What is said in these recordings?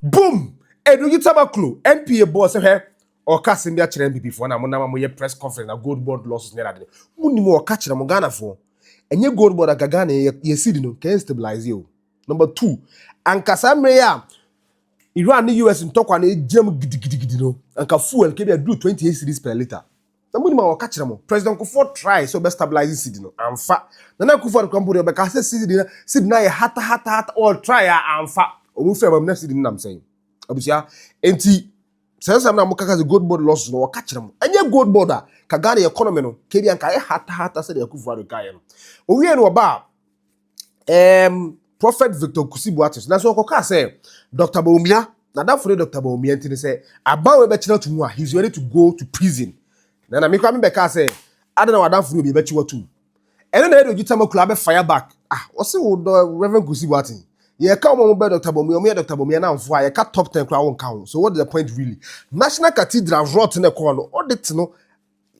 boom ɛnuyi tamaklo npa bɔɔ sɛ hwɛ ɔka asɛm bi akyerɛ mpipifoɔ na monam a moyɛ press conference na gold board losses ne adade monim ɔka kyerɛ mo ghanafoɔ ɛnyɛ gold board anka ghana yɛ yɛ seed no kɛn stabilize o number two anka saa mmerɛ yi a iran ne us ntɔkwa no gyam gidigidigidi no anka fuel kɛbi aduru 28 series per litre Na mo nim a wɔka kyerɛ mo, President Kufuor try sɛ ɔbɛ stabilize cedi no, anfa. Nana Akufo Addo kura mpo deɛ ɔbɛka sɛ cedi no cedi no ayɛ hata hata hata, ɔ try a anfa. Ɔmo firi aba mu na cedi no nam sɛn? Abusua, enti saa nsɛm no a mo kaka sɛ gold board losses no wɔka kyerɛ mo, ɛnyɛ gold board a, ka Ghana economy no, kɛdi anka ayɛ hata hata sɛdeɛ Akufo Addo kaeɛ no. Owie no ɔbaa, um Prophet Victor Nkusi Boates nanso ɔkɔkaa sɛ Dr. Bawumia n'adamfo ne Dr. Bawumia nti ne sɛ aban wei bɛkyena to mu a he's ready to go to prison na na mekora mebɛkaa sɛ ada na w'adamfo ne obi bɛkye watum ɛno na ɛde ogyi tama kura abɛ fire back ah wɔse wo dɔ Reverend Nkusi Boates yɛka wɔn wɔn bɛ Dr. Bawumia wɔn yɛ Dr. Bawumia namfo a yɛka top 10 kura wɔn ka ho so what is the point really National Cathedral rot ne kɔɔ no audit no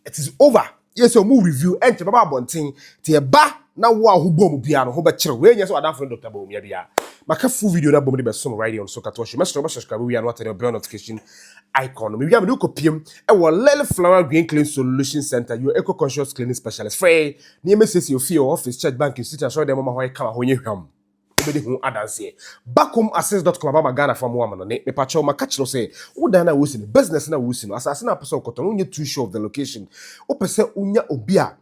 it is over yɛ sɛ ɔmo review ɛnkyɛ bɛba abɔnten te ɛba na wo a ho bom bia no ho bɛkyerɛ wo ɛnyɛ sɛ wadamfo ne dɔkta bɔ omia bia maka full video na bom de bɛsom right on so katoa show mɛsrɛ wo bɛ subscribe wia no atɛ ne bell notification icon no mewia mede wokɔ piem ɛwɔ lily flower green clean solution center your eco conscious cleaning specialist frɛ ne yɛmɛsiesie ofie office church bank institute asɔre dɛm ɔma hɔ yɛ kama hɔ nyɛ hwam wobɛdi ho adanseɛ. Bakom Ases dot com abama Ghana fa mmoa ma no ne, Mepakyɛw maka kyerɛ wo sɛ wo dan no a woresi no, business no a woresi no, asase no a wopɛ sɛ wokɔtɔ no wonyɛ too sure of the location. Wopɛ sɛ wonya obi a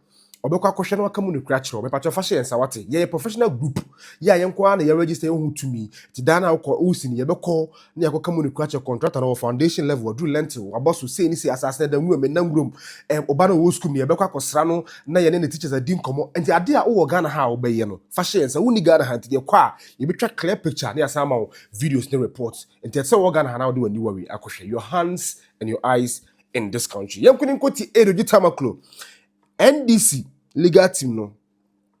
ɔbɛkɔ akɔhwɛ na waka mu nokorɛ akyerɛ wo, mepakyɛw fa hyɛ yɛn nsa wate. Yɛyɛ professional group, yɛ a yɛn nko ara na yɛaregister yɛn ho ho tumi, nti dan no a wokɔ woresi no yɛbɛkɔ na yɛakɔka mu ne kura kyɛ kɔntrata no wɔ foundation level, waduru lentil, wabɔ so, sei ne sei, asase no ada nwura mu, ɛnna nwura mu, ɛm, ɔba no ɔwɔ sukuu mu, yɛbɛkɔ akɔsra no na yɛne ne teachers adi nkɔmmɔ. Nti adeɛ a wowɔ Ghana ha a wobɛyɛ no, fa hyɛ yɛn nsa. Wonni Ghana ha nti, deɛ kɔ a, yɛbɛtwa clear picture na yɛasan ama wo videos ne reports. Nti ɛte sɛ wowɔ Ghana ha na wode w'aniwa wei akɔhwɛ. Your hands and your eyes in this country. Yɛnko ne nkɔtie Ado Gye Tamaklo, NDC legal team no.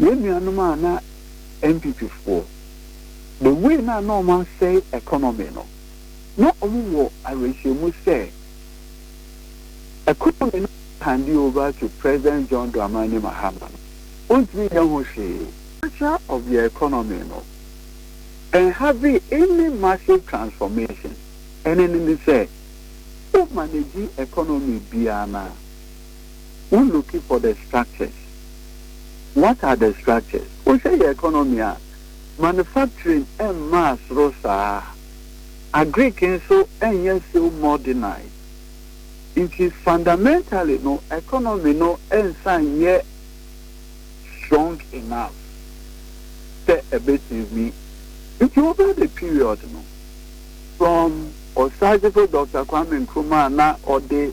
Yɛn nuanom a na NPP foɔ, the way no a na wɔn asɛe economy no, na wɔn wɔ awerɛhyɛmu sɛ economy no hande over to President John Dramani Mahama no, ɔntumi nyɛ ho hwee. Nature of their economy no ɛnhavee any massive transformation, ɛne ne ne sɛ, wo manage economy biara no a, Wo looking for the structures, what are the structures? Wo hwɛ yɛ economy a, manufacturing mmaa soro saa, agric nso nyɛ so modernized, nti fundamentally no economy no nsa nyɛ strong enough sɛ ɛbɛtumi. Nti over the period no, from Osagyefo Doctor Kwame Nkrumah na ɔde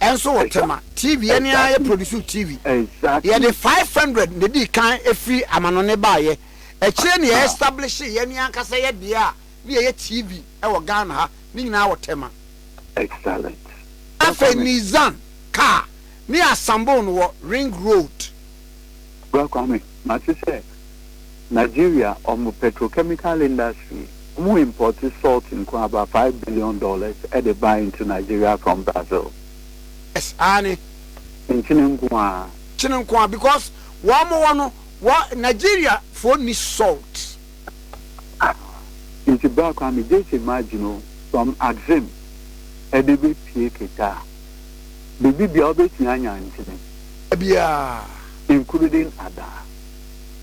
Nso wɔ Tema TV yɛ ne ara yɛ produsiw TV yɛ de five hundred na edii kan firi amanɔne baayɛ akyire na yɛ establishee yɛ ne ankasa yɛ deɛ a ne yɛ yɛ TV wɔ Ghana ha ne nyinaa wɔ Tema. Afei Nizan car ne Asambon wɔ Ring road. Bra Kwame, mate sɛ Nigeria wɔn petrochemical industry, wɔn import salt nkoaa about five billion dollars de ba into Nigeria from Brazil. Yes, aane. Nkyene nkoaa. Nkyene nkoaa because wɔn wɔ no, wɔ Nigeria foɔ nni salt. Ah, nti bra koraa me gyes imagine o, from Axim ɛde bɛ pie Keta, biribi biara wobɛtumi anya ntini. Biara. Including Ada.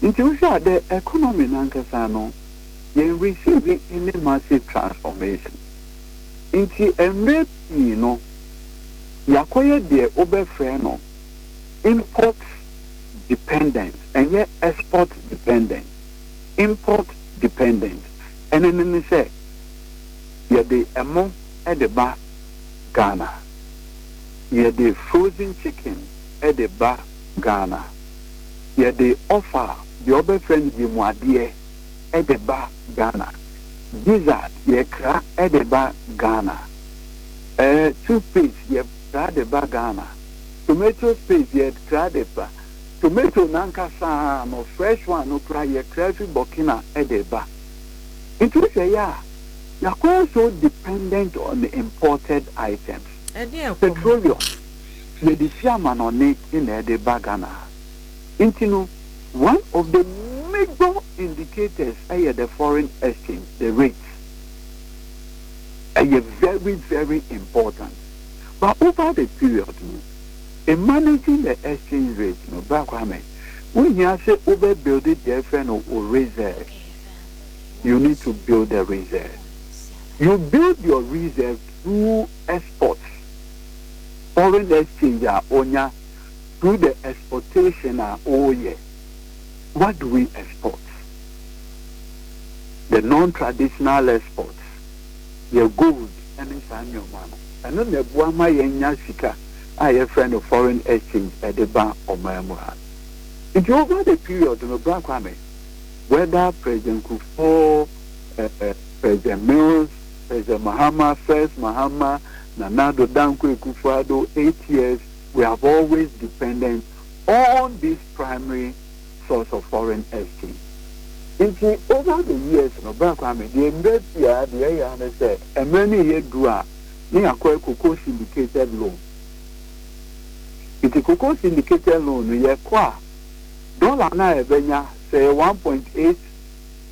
Nti wohwɛ a the economy no ankasa no, yɛn receive any massive transformation. Nti mmerɛ pii no, yɛakɔyɛ deɛ wobɛfrɛ no import dependent, ɛnyɛ export dependent. import dependent, ɛne no ne sɛ yɛde ɛmo de ba Ghana, yɛde frozen chicken de ba Ghana, yɛde offa, deɛ wɔbɛfrɛ no yamuadeɛ, de ba Ghana, gizzard yɛkra de ba Ghana, toothpaste yɛkra de ba Ghana, tomatoes paste yɛkra de ba. Tomato no ankasa ara no, fresh one no koraa, yɛtra afi Burkina de reba. Nti wo hwɛ yɛ a, yɛakɔyɛ so dependent on imported items. Petroleum, yɛde fi amanɔne na ɛde ba Ghana ha. Nti no, one of the major indicators yɛ the foreign exchange, the rates. Ɛyɛ very, very important. But over the period no, Managing the exchange rate no Bra Kwame, wo hia se wo bɛ build deɛ yɛ frɛ no wo reserves, you need to build the reserves, you build your reserves through exports, foreign exchange a wo nya through the exportation a wo yɛ, what do we export, the non-traditional exports. yɛ gold ne saa nneɛma no, ɛno na ɛboa ma yɛnya sika a yɛfrɛ no foreign exchange de ba ɔman mu ha. Nti over the period no, Bra Kwame, whether President Kufuor, eh, President Mills, President Mahama, First Mahama, Nana Addo Dankwa Akufo-Addo, eight years, we have always dependent on this primary source of foreign exchange. Nti over the years no bra Kwame deɛ mbrɛ si ara deɛ ɛyɛ ara ne sɛ mmerɛ no yɛ duru a ne yakɔ ɛkɔ kɔ syndicated loan. Nti kɔkɔ syndicated loan no yɛ kɔ a dollar no a yɛbɛnya sɛ ɛyɛ one point eight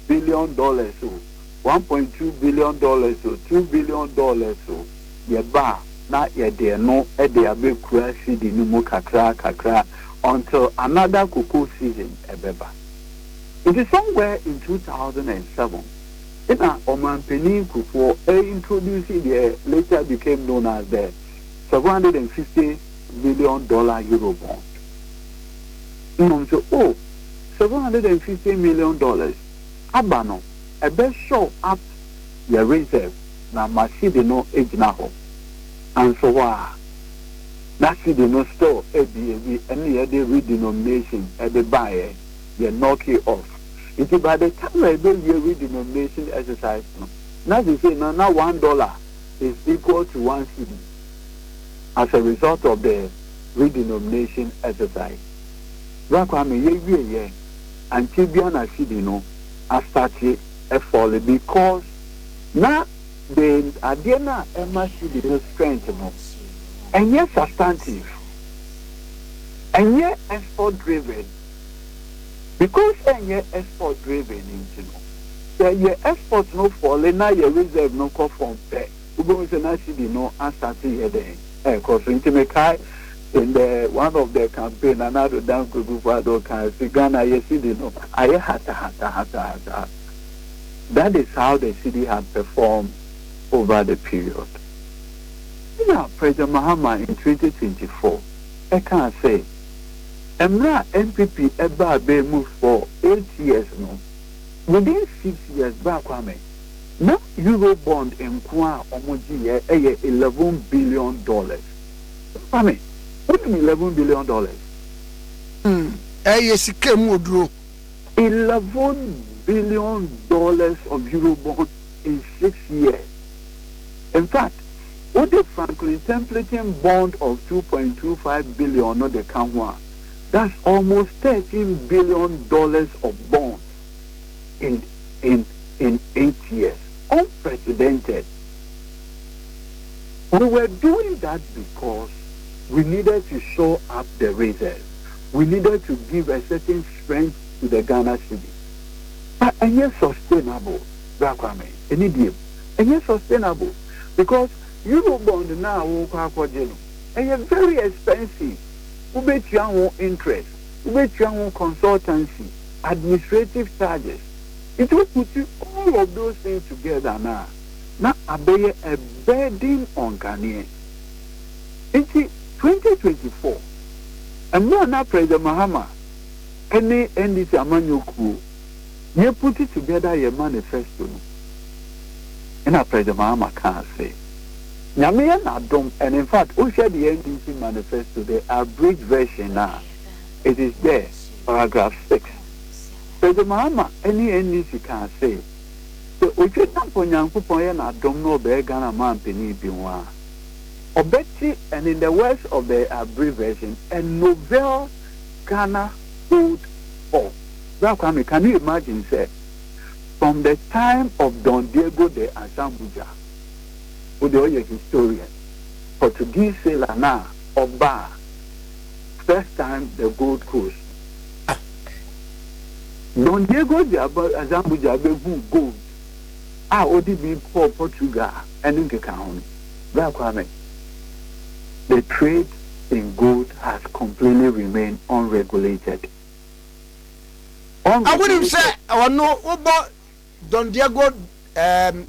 billion dollars o, one point two billion dollars o, two billion dollars o, yɛba a na yɛde ɛno de abɛkura cedi no mu kakra kakra until another cocoa season bɛba. Nti somewhere in two thousand and seven na Ɔmanpanin Kufuor introduce deɛ later became known as the seven hundred and fifty million dollar Eurobond. Mmom so, o, seven hundred and fifty million dollars aba no, ɛbɛ show up yɛ reserve na ma cedi no agyina hɔ. Nanso hɔ ara, na cedi no store abien bi ne yɛde redenomination de baeɛ, yɛ knock it off. Nti by the time a yɛbɛwie redenomination exercise no, na seesei no, na one dollar is equal to one cedi as a result of the. redenomination exercise. Bra Kwame yɛwie yɛ ankyɛ bia na Phoebe no astate ɛfɔle because na the adeɛ no a ɛma Phoebe no strength no ɛnyɛ substantive ɛnyɛ effort driven because ɛnyɛ effort driven nti no sɛ yɛ effort no fɔle na yɛ reserve no kɔ fam pɛ. Wubehu sɛ na CD no asate yɛ dɛn rekɔ so. Nti mekae in the one of the campaign na na Ado Dankwa Akufo-Addo kae se Ghana yɛ CD no ayɛ hatahatahatahataa. That is how the CD had performed over the period. Ɛna President Mahama in twenty twenty four ɛkaa sɛ mmerɛ a NPP ɛbaa bɛn mu for eight years no, within six years baa Kwame. na Eurobond nko a wɔgyeeɛ yɛ eleven billion dollars. Papa me, wonim eleven billion dollars? Hmm, ɛyɛ sika mu oduro. Eleven billion dollars of Eurobond in six years. In fact, wode Franklin Templeton bond of two point two five billion no de ka ho a, that's almost thirteen billion dollars of bonds. in in in eight years unprecedented we were doing that because we needed to shore up the reserve we needed to give a certain strength to the Ghana city na ɛnyɛ sustainable bra kwame ɛni diem ɛnyɛ sustainable because eurobond na a wɔkɔ akɔgye no ɛyɛ very expensive wobɛtua ho interest wobɛtua ho consultancy administrative charges, it will put all of those things together no a, na abɛyɛ a burden on Ghanaians. Nti, 2024, mmerɛ a na President Mahama ne NDC amanyɔ kuo yɛ put together yɛn manifesto no, ɛna President Mahama kaa sɛ, Nyame yɛ n'adom, and in fact, wo hwɛ the NDC manifesto, the abridged version no a, it is there. Paragraph six, Sɛ dze Mahama nye NDC kaa se, sɛ Otwi Ampon Nyankopɔn yɛ no adom na ɔbɛyɛ Ghana Manpanin bio a, ɔbɛtse and in the words of the Abri version, a novel Ghana old form. Bra Kwame, can you imagine sɛ from the time of Don Diego de Azambuja, wo deɛ ɔyɛ historian, Portuguese sailor no a ɔbaa first time the Gold Coast ah Don Diego de aba Azambuja bɛhu gold a ɔde bi kɔɔ Portugal ɛne nkeka ho no Bra Kwame The trade in gold has completely remain unregulated A wonim sɛ ɔno wobɔ Don Diego ɛɛm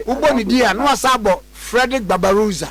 wobɔ ne din a na wasan abɔ Fredrick Barbarossa.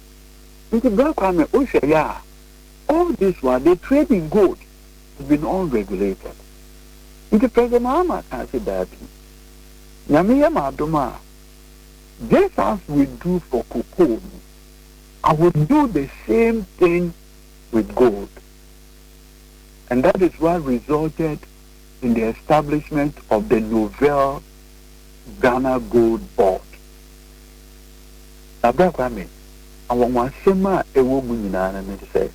Ntsi bra kwan mɛ wo hwɛ yɛ a, all this while they trade in gold has been unregulated. Ntsi President Mahama kaa se daabi, Nyame yɛ me adom a, just as we do for cocoa no, I will do the same thing with gold. And that is what resulted in the establishment of the novel Ghana Gold Board. Na bere a Kwame, anwanwasɛm a ɛwɔ mu nyinaa no ne sɛ,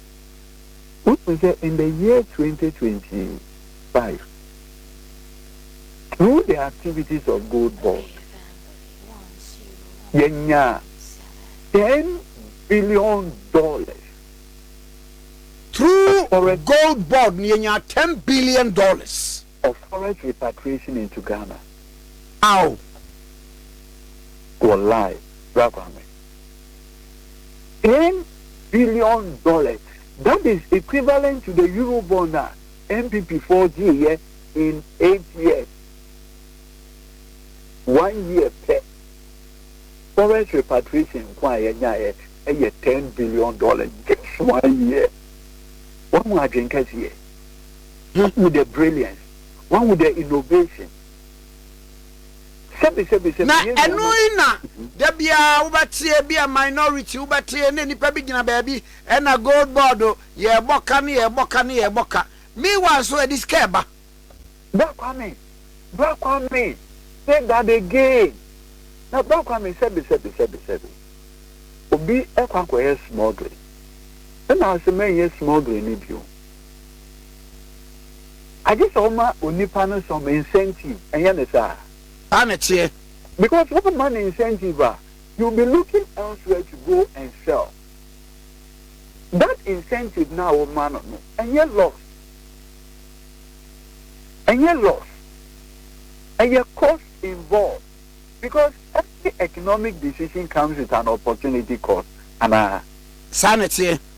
wohu sɛ in the year 2025, through the activities of Gold Board, yɛnya ten billion dollars. Through Gold Board, yɛnya ten billion dollars. of forest repatriation into Ghana aw Wallahi bra kwame ten billion dollars that is equivalent to the euro bond a npp foɔ gyeeyɛ in eight years one year pɛ forest repatriation nko a yɛnyaeɛ ɛyɛ ten billion dollars just one year wɔn mu adwen kɛseɛ He who the brilliance, one who the innovation. Sɛbi sɛbi sɛbi. Na ɛno yi na da biara wobɛteɛ bi a minority wobɛteɛ na nipa bi gyina baabi ɛna gold board yɛɛbɔ ka ne yɛɛbɔ ka ne yɛɛbɔ ka meanwhile nso ɛde sika ɛba. Bra Kwame, Bra Kwame, say that again, na Bra Kwame sɛbi sɛbi sɛbi sɛbi. Obi ɛkɔ akɔyɛ smuggling ɛna ɔse mɛnyɛ smuggling no bio. Agye sɛ ɔma onipa no some incentive, ɛnyɛ ne saa? Saa na ɛteɛ. Because womma no incentive a, he will be looking elsewhere to go and sell. That incentive no a woma no no, ɛnyɛ loss. Ɛnyɛ loss. Ɛyɛ cost involved. Because every economic decision comes with an opportunity cost, anaa? Saa na ɛteɛ.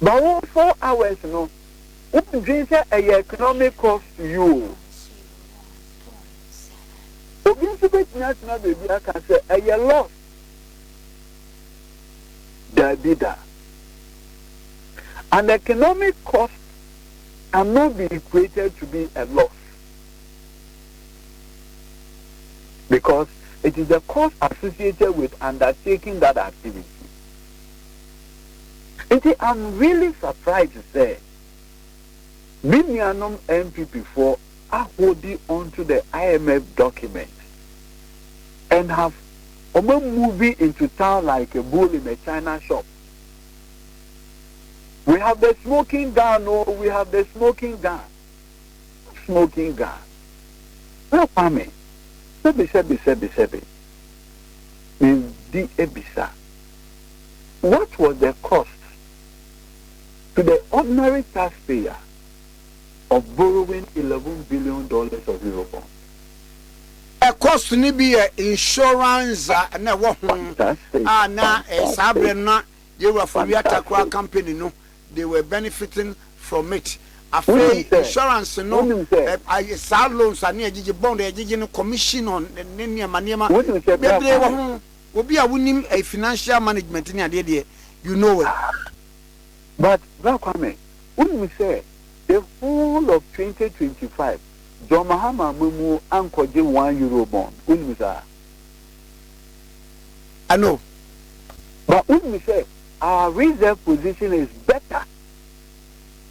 Ba wo four hours no wo ndwen sɛ ɛyɛ economic cost to you o. Obi nso bɛtumi atena baabi aka sɛ ɛyɛ loss. Daabi da. An economic cost can not be equated to be a loss. Because it is the cost associated with undertaking that activity. Nti I'm really surprised sɛ me nuanom NPP foɔ ahodi onto the IMF document and have wɔn a moving into town like a bull in a China shop. We have the smoking gun o, oh, we have the smoking gun. Smoking gun. Sɛ Kwame, sɛbi sɛbi sɛbi sɛbi. Medi ebisa. What was the cost to the ordinary taxpayer of borrowing eleven billion dollars of Eurobonds? Cost no bi yɛ insurance a na ɛwɔ ho a na saa berɛ no na yɛn wura Fowia Takraw company no they were benefiting from it. Afei insurance no saa loans a na yɛgyegye bond a yɛgyegye no commission on ne nneɛma nneɛma bebree wɔ ho. Obi a wonim ɛyɛ financial management ne adeɛ deɛ you know well. But Bra Kwame, wonnim sɛ the whole of twenty twenty five John Mahama ammamuo ankɔgye one Euro bond, wonnim saa? I know. But wonnim sɛ our reserve position is better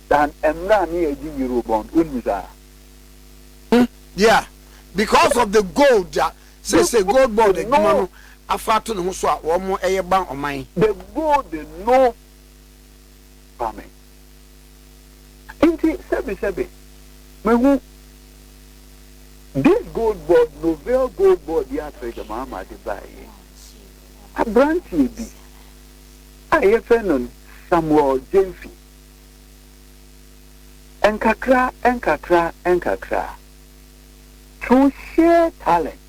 than mmerɛ a ne yɛgye Euro bond, wonnim saa? Hmm, yeah, because of the gold a Sɛ sɛ gold board adwuma no afa ato ne ho so a wɔn ɛyɛ ban ɔman. The gold no ma me nti sɛbi sɛbi me hu this gold board no veil gold board yi afrɛ gyama ama de ba yɛ abranteɛ bi a yɛ fɛ no Samuel Gyamfi nkakra nkakra nkakra. To share talent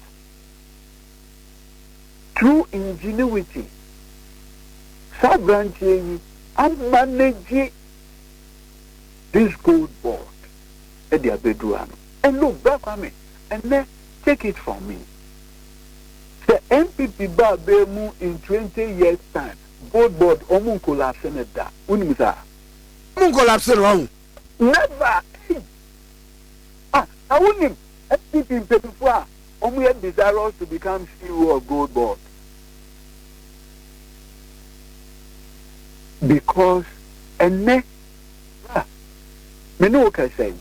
through ingenuity saa abranteɛ yi a manage this gold board de abɛduru ha no and look Bra Kwame ɛnɛ take it from me sɛ NPP ba abɛɛ mu in 20 years time gold board ɔmo nkolapse no da wonim saa ɔmo nkolapse no wahu Never ei ah na wonim mcp mpanyinfoɔ a wɔn yɛ desirous to become ceo of gold board because ɛnɛ bra me ne wo kɛsɛ yi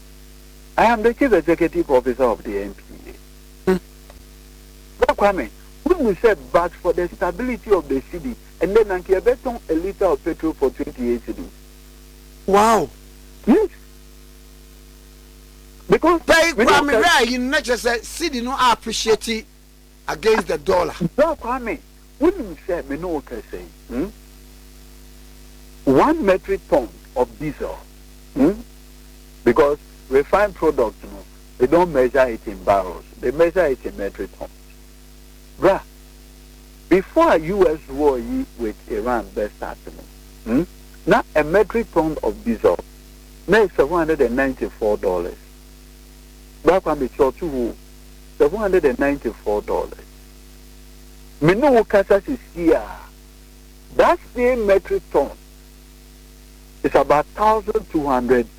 I am the chief executive officer of the NPA bra kwame wonim sɛ but for the stability of the city ɛnɛ na nka yɛbɛtɔn a litre of petrol for 28 cities. Wow! Yes. Because Pay Kwame hwɛ ayi no na kyerɛ sɛ cedi no a appreciate against the dollar. Bro Kwame, wonim sɛ me ne wo kasa yi hmm, one metric ton of diesel hmm, because refined product no, they don't measure it in barrels, they measure it in metric tons. Bra, before a US war yi with Iran bɛ start no, hmm, na a metric ton of diesel na yɛ seven hundred and ninety four dollars. Bra kwa me kyerɛ to hoo, seven hundred and ninety four dollars. Me ne wo kasa sisi a, that same metric ton is about thousand two hundred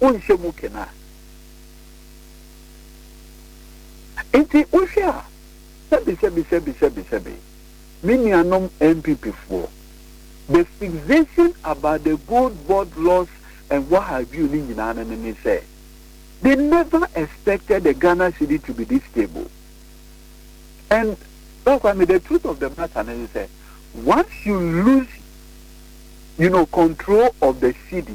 wonhyɛ mu kena. Nti wohwɛ a, sɛbesɛbesɛbesɛbesɛbe, me nuanom NPPfoɔ, the fixation about the Gold Board loss and what have you ne nyinaa no ne ne sɛ, they never expected the Ghana cedi to be this stable. And Ba Kwame, the truth of the matter no ne sɛ, once you lose you know, control of the cedi,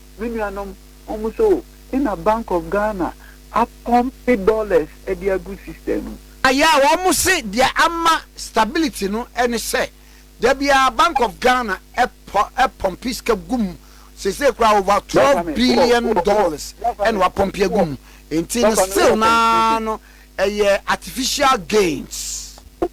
Me nuanom, hom nso, nna Bank of Ghana apɔmpe dollars de agu sister no mu. Ayɛ a wɔse deɛ ama stability no ne sɛ da biara Bank of Ghana pɔmpe sika gu mu. Seesei koraa over twelve billion dollars na wɔapɔmpe agu mu. Enti no still no ara no ɛyɛ artificial gains.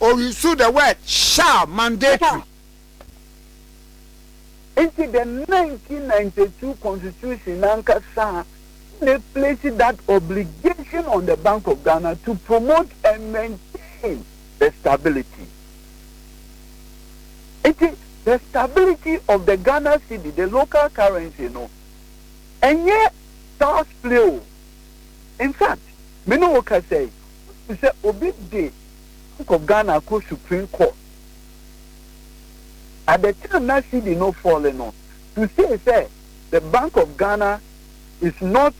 ɔyusu the word shall mandatory. Nti the 1992 constitution nankasa na ɛplace that obligation on the Bank of Ghana to promote and maintain the stability. Nti the stability of the Ghana cedi, the local currency no, ɛnyɛ child's play o. In fact, me ne wo kasa yi, Wonim sɛ obi de ankɔ Ghana akɔ Supreme Court. At the time na cedi no fall no, to say sɛ the Bank of Ghana is not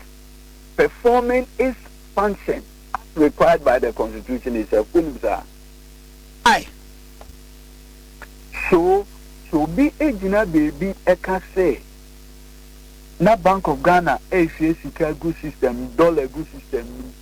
performing its function as required by the constitution is a fool saa. Ai! So, sɛ obi gyina baabi ka sɛ na Bank of Ghana rehwie sika agu system mu, dollar agu system mu,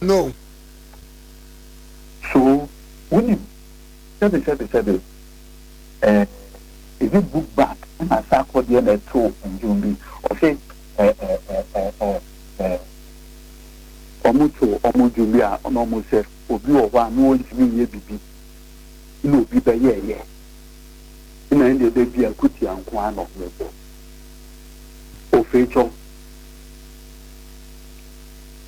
No. So wunim? Sɛbe, sɛbe, sɛbe, eh, is it book bag anaasɛ akɔdeɛ na ɛtoo nnwom bi? Ɔse, eh, eh, eh, eh, oh, eh, wɔn to wɔn nnwom bi a na wɔn sɛ obi wɔ hɔ a na wɔntumi nyɛ bibi na obi bɛyɛɛyɛ na ɛna ɛbɛdi akutia nko ara na wɔn bɔ ofeetwɔm.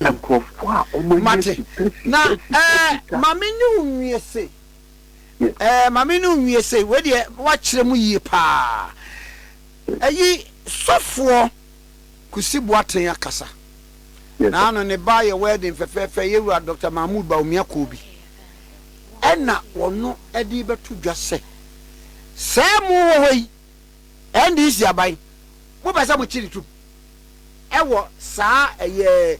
Nkurɔfoɔ a wɔn ani Mate. agye pɛ si Na pɛ si pɛ ɛɛ sika. maame ne wo nwie se. Yes. Ɛɛ maame ne wo nwie se. Wei deɛ woakyerɛ mu yie paa. Ɛyi sɔfoɔ Kusi Boateng akasa. Yes. Na ano ne ba yɛ wedding fɛfɛɛfɛ yɛ wura Doctor Mahmood Bawumia Kobi. Ɛna wɔno ɛde bɛto dwa sɛ. Sɛɛ mo wɔ hɔ yi. NDC aban mo pɛ sɛ mo kyere tum ɛwɔ saa ɛyɛ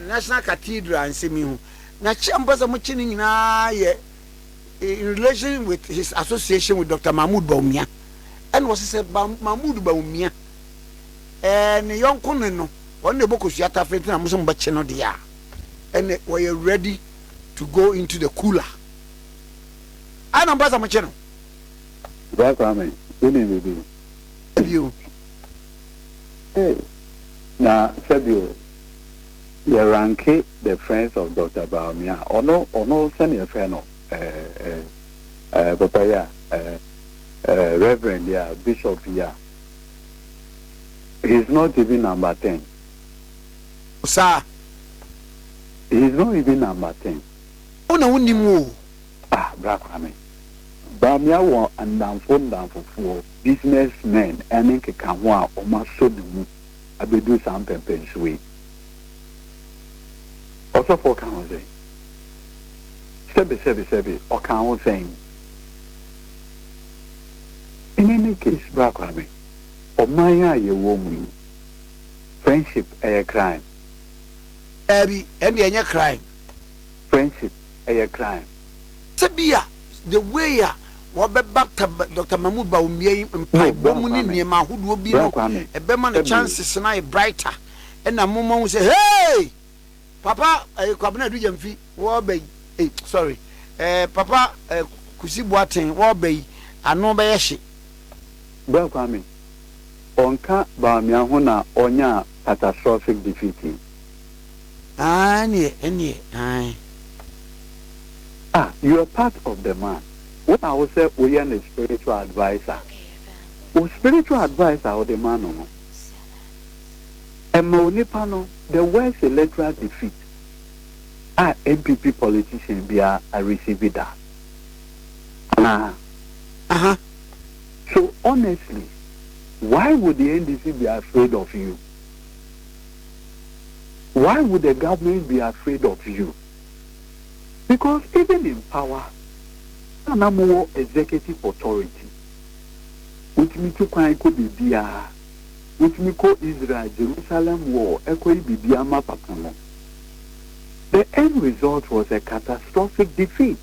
National Cathedral nsɛm yi ho na kyɛ mo pɛ sɛ mo kye no nyinaa yɛ in relation with his association with Doctor Mahmoud Bawumia ɛna ɔsɛ sɛ Mahmoud Bawumia ɛɛ ne yɔnko ne no ɔno na ɛbɔ kosua tafere ntina mo sɛ mo bɛ kye no deɛ a ɛna wɔyɛ ready to go into the cooler ɛna mo pɛ sɛ mo kye no Bra Kwame, wonim biribi? Bio. Hey, na hwɛ bio, yɛ ranke the friends of Doctor Bawumia, ɔno, ɔno sɛne yɛfrɛ no, eh, eh, eh, papa yi a, eh, eh, reverend yi a, bishop yi a, he's not even number ten. Saa. He's not even number ten. Wo na wonim o. Ah, Bra Kwame. Bawmia wɔ nnamfo nnamfofoɔ, business men ne nkekaho a wɔasɔ ne mu abɛduru saa mpɛmpɛnsoɔ yi. Ɔsɔfoɔ ka ho sɛn? Sɛbe sɛbe sɛbe, ɔka ho sɛn? In any case, Bra Kwame, ɔman a yɛwɔ mu yi, friendship yɛ crime? Daabi, ɛndeɛ ɛnyɛ crime. Friendship yɛ crime. Sɛbia the way a wɔbɛba Doctor Mahmood Bawumia yi mpaebɔ mu ne nneɛma ahodoɔ bi no ɛbɛma ne chances no ayɛ brighter ɛna mo mahu sɛ hey! Papa eh, Kwabena Adu Gyamfi wɔɔba yi eh, sorry eh, Papa eh, Kusi Boaten wɔɔba yi ano bɛyɛ hye. Bra Kwame, ɔnka Bawumia ho na ɔnyaa catastrophic defeat yi. Aane ɛneɛ aane. Ah you are part of the man wo na wo sɛ wo yɛ ne spiritual adviser wo spiritual advice a wo de ma no no ɛma onipa no the worst electoral defeat a NPP politician biara a receive da anaa aha so honestly why would the NDC be afraid of you Why would the government be afraid of you? Because even in power, na na mowɔ executive authority. Wotumi tu kwan kɔ baabiara. Wotumi kɔ Israel, Jerusalem wall ɛkɔyɛ biribi ama papa no. The end result was a catastrophic defeat.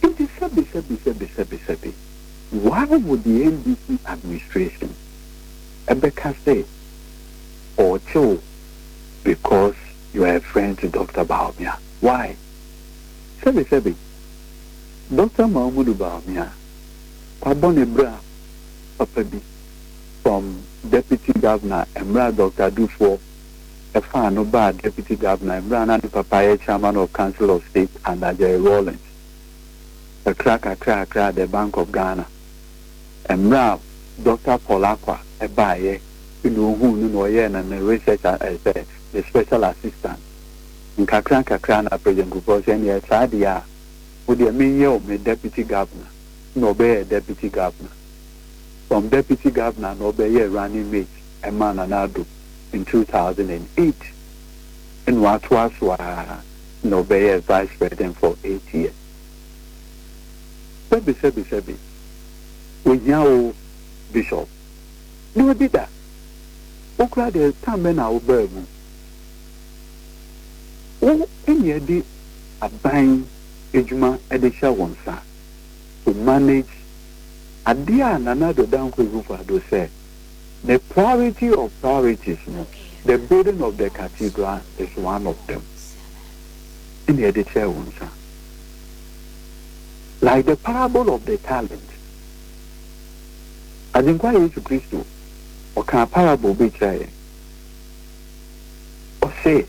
Nti sɛbi sɛbi sɛbi sɛbi sɛbi, why would the NDC administration ɛbɛka sɛ ɔɔkye wo because you are a friend to Doctor Bawumia. Why? Sɛbe sɛbe Doctor Mahmudu Bawumia wabɔ ne bra papa bi from Deputy Governor mmerɛ a Doctor Adufoɔ faa no baa Deputy Governor mmerɛ a na ne papa yɛ Chairman of Council of State under Jerry Rawlings. Kakra kakra kakra the Bank of Ghana. Mmerɛ a Dɔkta Paul Acquah baeɛ na ɔhuu no na ɔyɛɛ no ne research a ɛɛ sɛ ne special assistant. Nkakra nkakra na President Kufuor sɛ ɛnneɛ saa deɛ a wo deɛ menyɛ wo me Deputy Governor na ɔbɛyɛɛ Deputy Governor. From Deputy Governor na ɔbɛyɛɛ Running Mate ɛmaa Nana Addo in two thousand and eight ɛna watoa so ara na ɔbɛyɛɛ Vice President for eight years. Sɛbi sɛbi sɛbi. Ohia wo bishop. Nyɛ ɔde da. Wo koraa deɛ time bɛn na wobaa mu? Wo ɛne ɛde aban adwuma ɛde hyɛ wo nsa to manage adeɛ a Nana Addo Dankwa Akufo Addo sɛ ne priority of priorities no the building of the cathedral is one of them ɛne ɛde hyɛ wo nsa. Like the parable of the talent, Agyenkwa Yesu Kristo ɔkaa parable bi kyerɛɛ yɛn. Ɔse,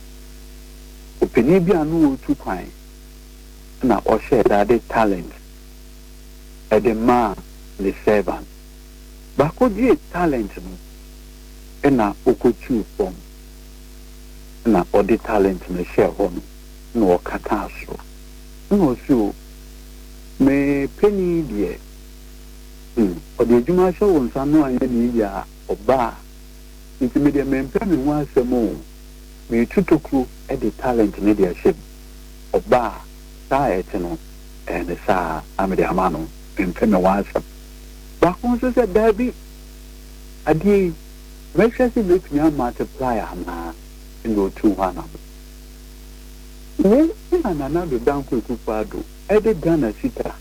opanin bi a na ɔretu kwan na ɔhyɛɛ da de talent de maa ne servant. Baako gyee talent no na ɔkɔtuu fam na ɔde talent no hyɛɛ hɔ no na ɔkataa soro. Nna ɔse o, me panin yi deɛ, hmm, ɔde adwuma ahyɛ wo nsa no anyɛ ne yiye a, ɔbaa, nti me deɛ mempɛ me ho asɛm o, meretu tokuro de talent no de ahyɛ mu, ɔbaa, saa a ɛte no, ɛyɛ ne saa a mede ama no, mempɛ me ho asɛm. Baako nso sɛ, Daabi, adeɛ yi, mɛhwɛ se mɛtumi a multiply anaa, ɛna ɔtuu hɔ anamɔ. Wei na Nana Addo Dankwa Akufo Addo de Ghana sika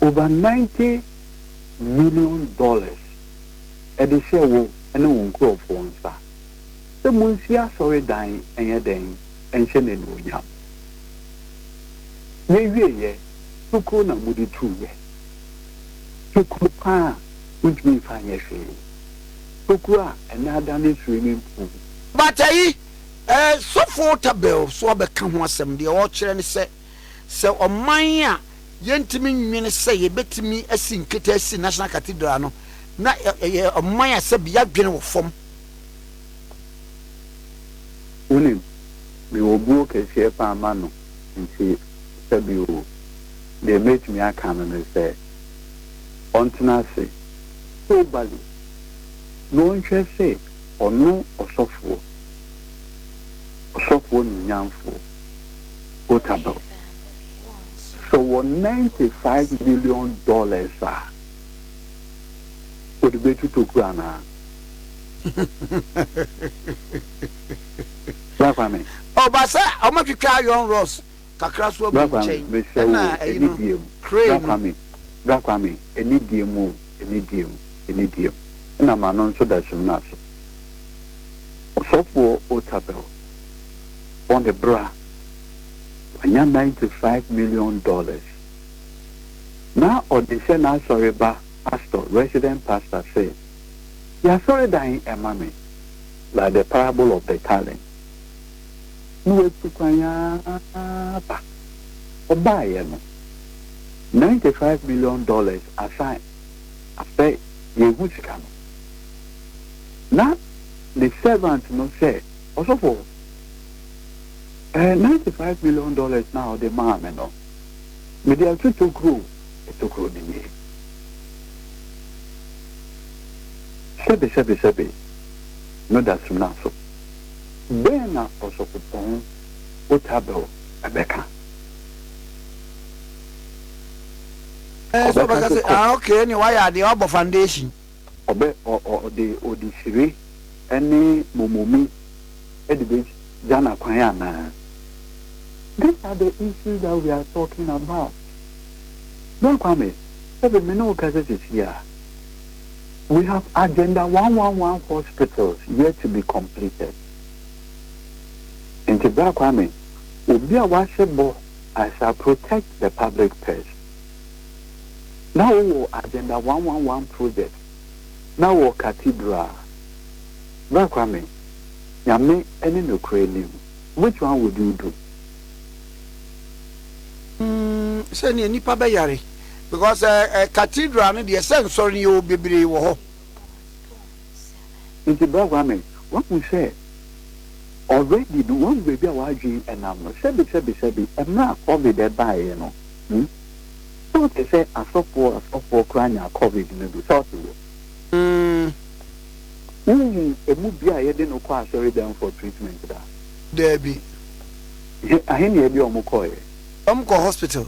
over ninety million dollars de hyɛɛ wo ne wo nkurɔfoɔ nsa sɛ monsi asɔredan nyɛ dɛn nhyɛ no anuonyam. Yɛwieeɛ, tokuro na mode tuuɛ. Tokuro pa ara a wontumi mfa nyɛ hwee. Tokuro a ɛnnɛ adane swimming pool. But ayi Sɔfo Tabel nso abɛka ho asɛm. Deɛ ɔrekyerɛ ne sɛ, sɛ ɔman a yɛntumi nnwene sɛ yɛbɛtumi asi nkete asi National Cathedral no, na ɛyɛ ɔman a sɛbe yɛadwene wɔ fam. Wonim, mewɔ buo kɛseɛ paa ma no nti sɛbe o, deɛ mɛtumi aka no ne sɛ ɔntena ase, Hobali, na ɔnhwɛ sɛ Ɔno ɔsɔfoɔ, ɔsɔfoɔ nuonyamfoɔ Otabil, sɛ ɔwɔ ninety five million dollars a, ɔde bɛtu tokuro anaa? Bra Kwame. Ɔba sɛ ɔmo twitwa iron rods kakra so agu nkyɛn ɛna ayi no crane no. Bra Kwame, ɛne deɛ mu o, ɛne deɛ mu, ɛne deɛ mu, ɛna ma no nso da Sumina so. Ɔsɔfoɔ Otabil, bɔ ne bra, wanya ninety five million dollars. Na ɔde hyɛ n'asɔre ba pastor, resident pastor sɛ, yɛ asɔredan ɛma me, like the parable of the talent. na watu kwan ara aba. Ɔbaeɛ no, ninety five million dollars asan. Afɛ yɛnhu sika no. Na ne servant no sɛ, Ɔsɔfo, eh, ninety five million dollars no a wode maa me no, mede ato tokuro, tokuro no nie. Sɛbesɛbesɛbe no da sumina so. Dɛn na Ɔsɔfopɔn Otabil bɛka? Ɔbɛka sɛ, Kɔ. Ɔbɛ, ɔ, ɔ, ɔde, ɔde hyire ne momomi de begya no akwan anaa? These are the issues that we are talking about. Bra Kwame, sɛbe me ne wo kasa seesei a, We have agenda one one one hospitals yet to be completed. Nti Bra Kwame, obi a w'ahyɛ bɔ I shall protect the public purse. Na wo wɔ agenda one one one one projects, na wɔ cathedral. Bra Kwame, Nyame ne nokorɛ nim, which one would you do? sɛnea nipa bɛyare because ɛɛ eh, eh, cathedral no deɛ sɛ nsɔre no yɛwɔ bebree wɔ hɔ. nti bra kwame wahu sɛ already no wahu baabi a wadwen ɛnam no sɛbi sɛbi sɛbi ɛmmerɛ a covid ɛbaeɛ no hmm? sɛ ɔte sɛ asɔfoɔ asɔfoɔ koraa nyaa covid no bi sɛ ɔte wɔ hmm. wohu ɛmu bi a yɛde no kɔ asɔre dɛm for treatment daa Daabi. He ahe na ɛde wɔn kɔeɛ? Wɔn kɔɔ hospital.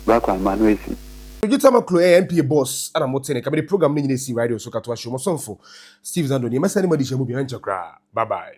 Bra kwan ma no asi. Regye Tama Kuro ɛyɛ NPA boss ɛna mo tene nka mede program no nyina si radio so ka to ahyew mo somfo Steve Zando nie mɛsɛne mo adesua mu bi ɛnkyɛ koraa bye bye.